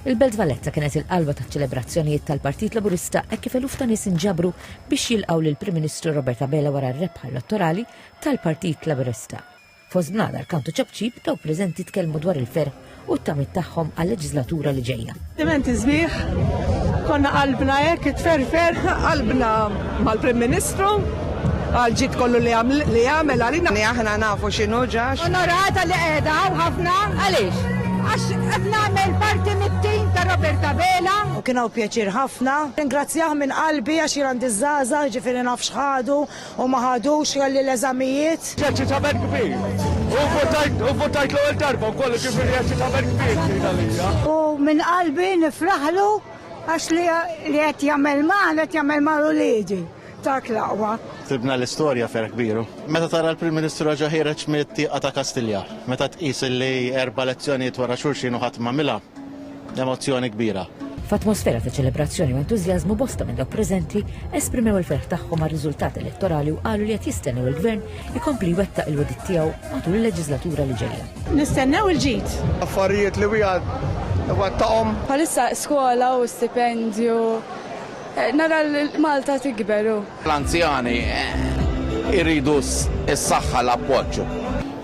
Il-Belt Valletta kienet il-qalba taċ-ċelebrazzjonijiet tal-Partit Laburista hekk kif eluf ta' nies inġabru biex jilqgħu lill-Prim Ministru Robert Abela wara r-rebħa elettorali tal-Partit Laburista. Fost bnadar, kant u ċapċip, dawk preżenti tkellmu dwar il-ferħ u t-tamiet tagħhom għal-leġislatura li ġejja. Dimenti sbieħ, konna qalbna hekk itferfer, qalbna mal-Prim Ministru, Għall-ġid kollu li għamel għalina. Li aħna nafu x'inhu ġa. Onorata li qiegħda hawn ħafna. Għaliex? Għax qed nagħmel parti mit-tim ta' Robert Abela. U kien hawn pjaċir ħafna. Nirringrazzjah minn qalbi għax jien għandi ż-żgħażagħ, jiġifieri naf x'ħadu u ma ħadux, kelli l-eżamijiet. Eċċitament kbir. U vvotajt, u vvotajt l-ewwel darba wkoll, jiġifieri eċċitament kbir kien għalija. U minn qalbi nifraħlu għax li qed jagħmel magħna qed jagħmel mal-uliedi. Dak l-aqwa. Sibna l-istorja ferħ kbiru. Meta tara l-Prim Ministru raġa' ħiereġ mit-tieqa ta' Kastilja, meta tqis li erba' elezzjonijiet wara xulxin u ħadd m'għamilha, emozzjoni kbira. F'atmosfera ta' ċelebrazzjoni u entużjażmu bosta minn dawk preżenti esprimew il-ferħ tagħhom għar-riżultat elettorali u qalu li qed jistennew il-Gvern ikompli jwettaq il-wegħdiet tiegħu matul il-leġiżlatura li ġejja. Nistennew il-ġid. Affarijiet li wieħed iwettaqhom. Bħalissa skola u stipendju Nara l-Malta tikber u. L-anzjani jridu s-saħħa l-appoġġ.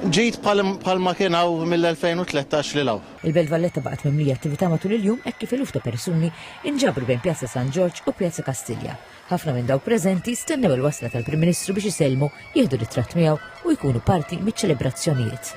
Ġid bħal ma kien hawn mill-2013 lil hawn. Il-Belt Valletta baqgħet mimlija attività matul il-jum hekk kif eluf ta' persuni inġabru bejn Pjazza San Ġorġ u Pjazza Kastilja. Ħafna minn dawk preżenti stennew il-wasla tal-Prim Ministru biex isellmu, jieħdu ritratt miegħu u jkunu parti miċ-ċelebrazzjonijiet.